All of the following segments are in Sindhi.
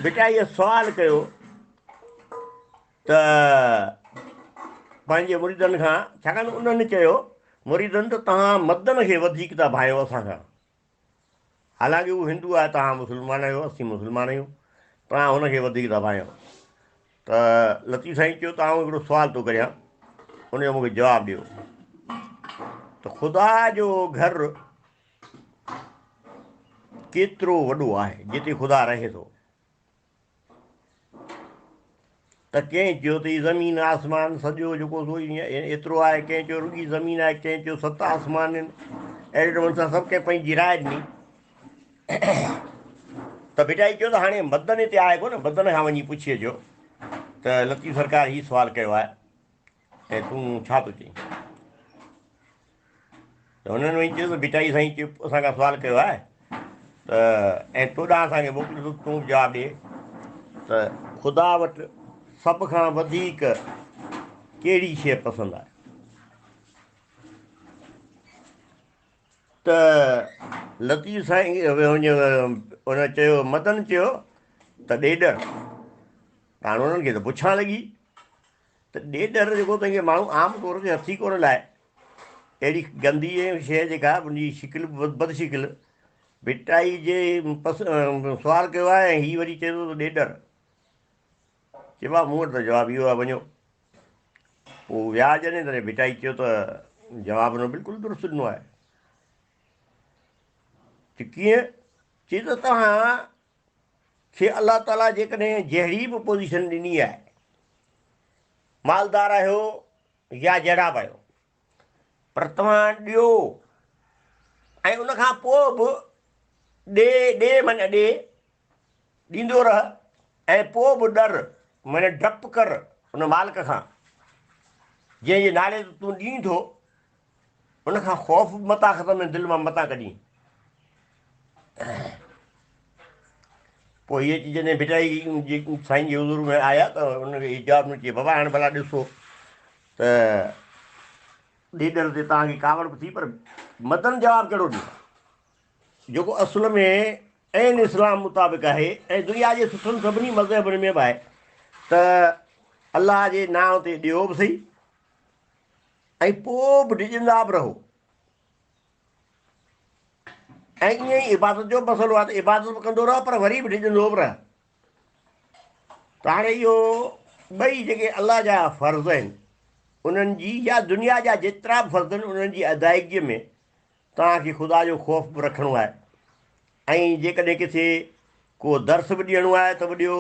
ڀٽائيء سوال ڪيو ته پنهنجي مريدن کان، ڇاڪاڻ ته انهن چيو، مريدن ته توهان مدن کي وڌيڪ ٿا ڀانئيو اسان کان، حالانڪه هو هندو آهي، توهان مسلمان آهيو، اسين مسلمان آهيون، توهان هن کي وڌيڪ ٿا ڀانئيو. ته لطيف سائين چيو ته آئون هڪڙو سوال ٿو ڪريان، ان جو مون کي جواب ڏيو ته خدا جو گهر ڪيترو وڏو آهي جتي خدا رهي ٿو؟ ته ڪنهن چيو ته هي زمين آسمان سڄو جيڪو ايترو آهي ڪنهن چيو رڳي زمين آهي ڪنهن چيو ست آسمان آهن اهڙي نموني سان سڀ ڪنهن پنهنجي راء ڏني ته بيٽا هي چيو ته هاڻي مدن هتي آهي ڪو نه مدن کان وڃي پڇي اچو ته لطيف سرڪار هي سوال ڪيو آهي ۽ تون ڇا ٿو چئين؟ ته هنن وڃي چيو ته ڀٽائي سائين چيو اسان کان سوال ڪيو آهي ته ۽ تو ڏانهن اسان کي موڪليو ته تون جواب ڏي ته خدا وٽ سڀ کان وڌيڪ ڪهڙي شيء پسند آهي ته لطيف سائين ان چيو مدن چيو ته ڏيڏر هاڻ انهن کي ته پڇان لڳي ته ڏيڏر جيڪو تنهن کي ماڻهو عام طور تي هٿي ڪونه لائي، اهڙي گندي ۽ شيء جيڪا ان جي شڪل به بد شڪل، ڀٽائي جي پس سوال ڪيو آهي ۽ هي وري چئي ٿو ته ڏيڏر. چئبو آهي مون وٽ ته جواب اهو آهي وڃو. پوء ويا جڏهن تڏهن ڀٽائي چيو ته جواب انهو بلڪل درست ڏنو آهي. چي ڪيئن؟ چي ته توهان کي الله تعاليٰ جيڪڏهن جهڙي به پوزيشن ڏني آهي، مالدار آهيو يا جهڙا به آهيو، پر توهان ڏيو ۽ ان کان پوء به ڏي، ڏي معنيٰ ڏي، ڏيندو رهه ۽ پوء به ڏر معنيٰ ڊپ ڪر ان مالڪ کان جنهن جي نالي تي تون ڏين ٿو، ان کان خوف به متان ختم ۽ دل مان متان ڪڍين. پوء هي اچي جڏهن ڀٽائي جي سائين جي حضور ۾ آيا ته ان کي جواب ڏنو چي بابا هاڻي ڀلا ڏسو ته ڏيڏر تي توهان کي ڪاوڙ به ٿي پر مدن جواب ڪهڙو ڏيندا جيڪو اصل ۾ عين اسلام مطابق آهي ۽ دنيا جي سٺن سڀني مذهبن ۾ به آهي ته الله جي نانء تي ڏيو به صحيح ۽ پوء به ڊڄندا به رهو ۽ ائين ئي عبادت جو به مسئلو آهي ته عبادت به ڪندو رهه پر وري به ڊڄندو به رهه ته هاڻي اهو ٻئي جيڪي الله جا فرض آهن انهن جي يا دنيا جا جيترا به فرض آهن انهن جي ادائيگيء ۾ توهان کي خدا جو خوف به رکڻو آهي ۽ جيڪڏهن ڪٿي ڪو درس به ڏيڻو آهي ته به ڏيو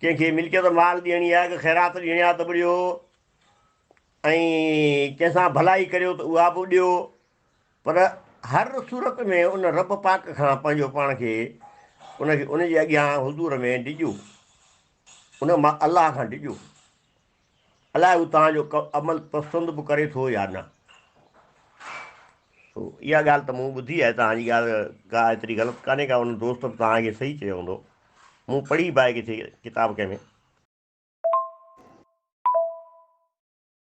ڪنهن کي ملڪيت مال ڏيڻي آهي ڪه خيرات ڏيڻي آهي ته به ڏيو ۽ ڪنهن سان ڀلائي ڪريو ته اها به ڏيو پر هر صورت ۾ ان رب پاڪ کان پنهنجو پاڻ کي ان کي ان جي اڳيان حضور ۾ ڊڄو ان الله کان ڊڄو. الاء هو توهان جو عمل پسند به ڪري ٿو يا نه. اها ڳالهه ته مون ٻڌي آهي، توهان جي ڳالهه ڪا ايتري غلط ڪانهي ڪا، ان دوست به توهان کي صحيح چيو هوندو. مون پڙهي به آهي ڪٿي ڪتاب ڪنهن ۾.